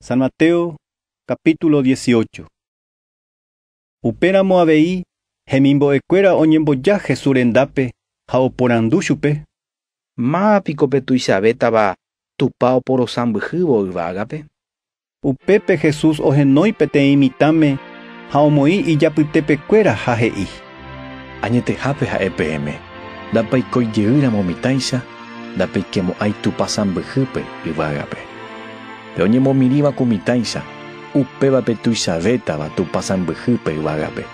San Mateo capítulo dieciocho. Upéramo avei, hemimbo'ekuéra oñemboja Jesús rendápe ha oporandu chupe. Máva piko pe tuichavétava Tupã oporosãmbyhývo yvágape? Upépe Jesús ohenói peteĩ mitãme ha omoĩ ijapytepekuéra ha he'i. Añetehápe ha'e peẽme, ndapaikói jey ramo mitãicha, ndapeikemo'ãi Tupã sãmbyhýpe yvágape. Pe oñemomirĩva ku mitãicha, upévape tuichavétava Tupã sãmbyhýpe yvágape.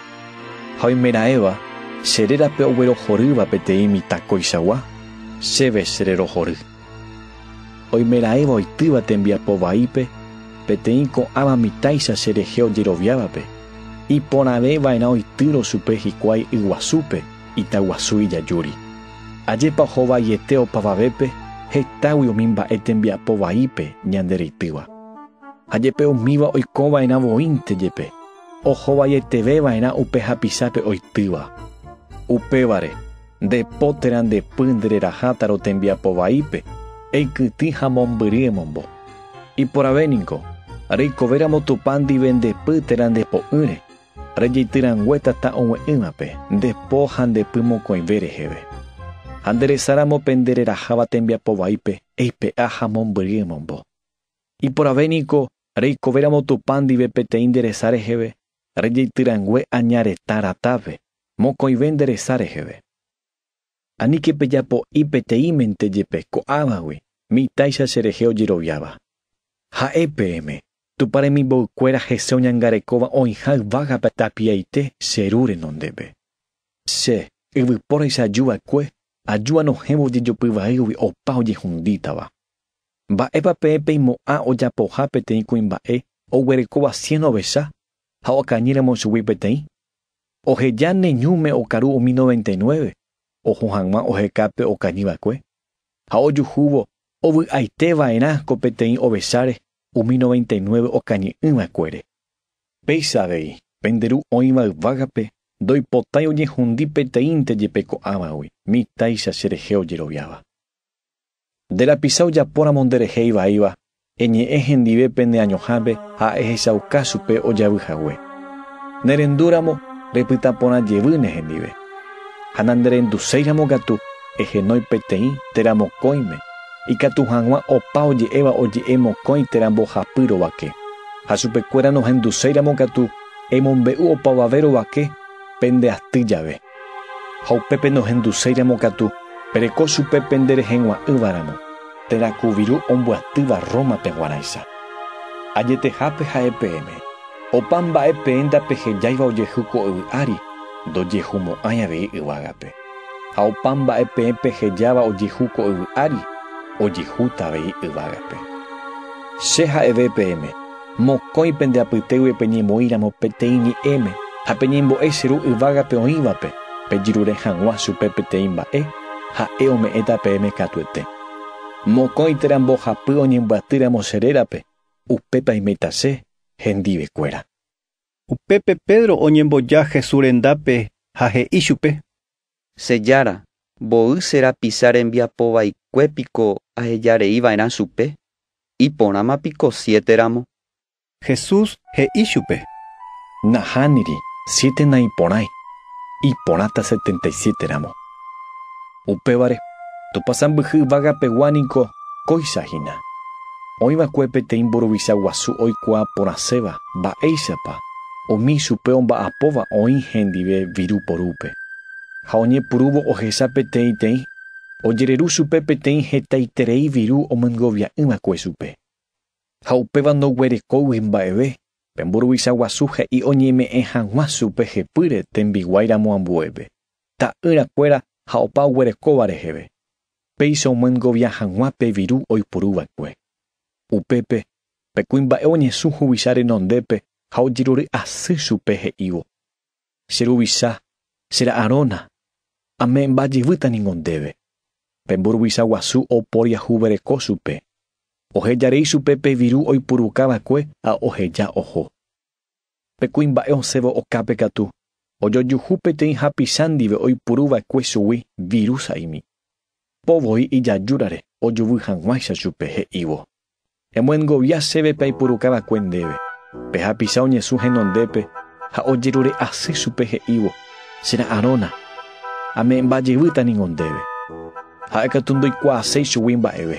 Ha oimeraẽva, che rérape oguerohorýva peteĩ mitã kóichagua, chéve chererohory. Oimeraẽva oitýva tembiapo vaípe, peteĩ ko'ãva mitãicha che rehe ojeroviávape, iporãve va'erã oitýrõ chupe hikuái yguasúpe itaguasu ijajúri. Ajépa oho vaiete opavavépe hetágui umi mba'e tembiapo vaípe ñande reitýva! Ha jepe umíva oiko va'erã voínte jepe, oho vaieteve va'erã upe hapichápe oitýva. Upévare, Nde po térã nde py ndererahátaro tembiapo vaípe, eikytĩ ha mombyry emombo. Iporave ningo, reikovéramo Tupã ndive nde py térã nde po'ỹre, rejeity rangue tata ogue'ỹvape nde po ha nde py mokõive reheve. Ha nde resáramo pe ndereraháva tembiapo vaípe eipe'a ha mombyry emombo. Iporave ningo, reikovéramo Tupã ndive peteĩ nde resa reheve, Rejeity rangue aña retã ratápe, mokõive nde resa reheve. Aníke pejapo'i peteĩmente jepe ko'ãvagui mitãicha che rehe ojeroviáva. Ha'e peẽme, Tupã remimboykuéra hese oñangarekóva oĩha yvágape tapiaite che Ru renondépe. Che, yvypóraicha ajuva'ekue, ajúa nohẽvo ojejopy vaígui opa ojehundítava. Mba'épa peẽ peimo'ã ojapoha peteĩ kuimba'e oguerekóva cien ovecha ha okañýramo chugui peteĩ? Oheja ne ñúme okaru umi noventa y nueve oho hag̃ua oheka pe okañy va'ekue, ha ojuhúvo ovy'aite va'erã ko peteĩ ovecháre umi noventa y nueve okañy'ỹ va'ekuére. Péicha avei, pende ru oĩva yvágape ndoipotái oñehundi peteĩnte jepe ko'ãvagui, mitãicha cherehe ojeroviáva. Nde rapisa ojapóramo nde rehe ivaíva, eñe'ẽ hendive pene añohápe ha ehechauka chupe ojavy hague. Ne rendúramo repyta porã jevy ne hendive. Ha nande renduséiramo katu, ehenói peteĩ térã mokõime, ikatu hag̃ua opa oje'éva oje'e mokõi térã mbohapy rovake. Ha chupekuéra nohenduséiramo katu, emombe'u opavave rovake pende aty jave. Ha upépe nohenduséiramo katu, pereko chupe pende rehe gua'ỹvaramo, térã ku viru ombyatýva Rómape guarãicha. Ajetehápe ha'e peẽme, opa mba'e peẽnda pehejáiva ojehu ko yvy ári, ndojehumo'ãi avei yvágape. Ha opa mba'e peẽ pehejáva ojehu ko yvy ári, ojehúta avei yvágape. Che ha'eve peẽme, Mokõi pende apytégue peñemoĩramo peteĩ ñe'ẽme ha peñembo'e che ru yvágape oĩvape, pejerure hag̃ua chupe peteĩ mba'e, ha'e ome'ẽta peẽme katuete. Mokõi térã mbohapy oñembyatýramo che rérape, upépe aiméta che hendivekuéra. Upépe Pedro oñemboja Jesús rendápe ha he'i chupe. Che Jára, mboy che rapisa rembiapo vaikue piko aheja rei va'erã chupe? Iporãma piko siete ramo? Jesús he'i chupe. Nahániri, siete naiporãi, iporãta setenta y siete ramo. Upévare, Tupã sãmbyhy yvága pegua niko Kóicha hína. Oĩ va'ekue peteĩ mburuvicha guasu oikuaa porãséva mba'éichapa umi chupe omba'apóva oĩ hendive viru porúpe. Ha oñepyrũvo ohecha peteĩteĩ, ojereru chupe peteĩ hetaiterei viru omyengovia'ỹ va'ekue chupe. Ha upéva ndoguerekógui mba'eve, pe mburuvicha guasu he'i oñeme'ẽ hag̃ua chupe hepýre tembiguái ramo ambuépe, ta'ýra kuéra ha opa oguerekóva reheve. Péicha omyengovia hag̃ua pe viru oipuru va'ekue. Upépe, pe kuimba'e oñesũ huvicha renondépe ha ojerory asy chupe he'ívo, Che ruvicha, che ra'arõna, ame'ẽmba jevýta ningo ndéve. Pe mburuvicha guasu oporiahuvereko chupe. Oheja rei chupe pe viru oipuruka va'ekue ha oheja oho. Pe kuimba'e osẽvo okápe katu, ojojuhu peteĩ hapicha ndive oipuru va'ekue chugui viru sa'imi. Po voi ijajúrare ojuvy hag̃uáicha chupe, he'ívo, Emyengovia chéve pe aipuruka va'ekue ndéve. Pe hapicha oñesũ henondépe ha ojerure asy chupe he'ívo, Che ra'arõna, ame'ẽmba jevýta ningo ndéve. Ha'e katu ndoikuaaséi chugui mba'eve,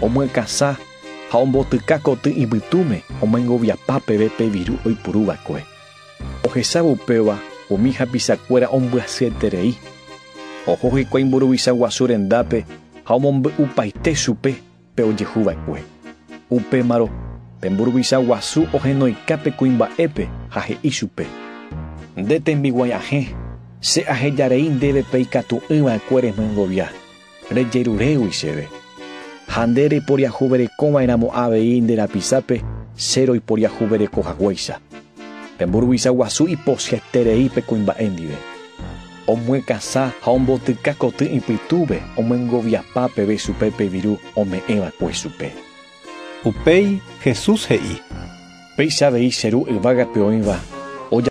omyakãsa, Ha ombotyka koty yvytúme omaingoviapa peve pe viru oipuru va'ekue. Ohechávo upéva, umi hapichakuéra ombyasyeterei. Oho hikuái mburuvicha guasu rendápe ha omombe'upaite chupe pe ojehu va'ekue. Upémarõ, pe mburuvicha guasu ohenoika pe kuimba'épe ha he'i chupe, Nde tembiguái ahẽ, che aheja rei ndéve pe ikatu'ỹ va'ekue remyengovia. Rejerurégui chéve, ha nde reporiahuverekova'erãmo avei nde rapichape che roiporiahuvereko haguéicha. Pe mburuvicha guasu ipochyeterei pe kuimba'e ndive. Omyekasa ha ombotyka koty ipytũve omyengoviapa peve chupe pe viru ome'ẽ va'ekue chupe. Upéi Jesús he'i. Péicha avei che Ru yvágape oĩva oja.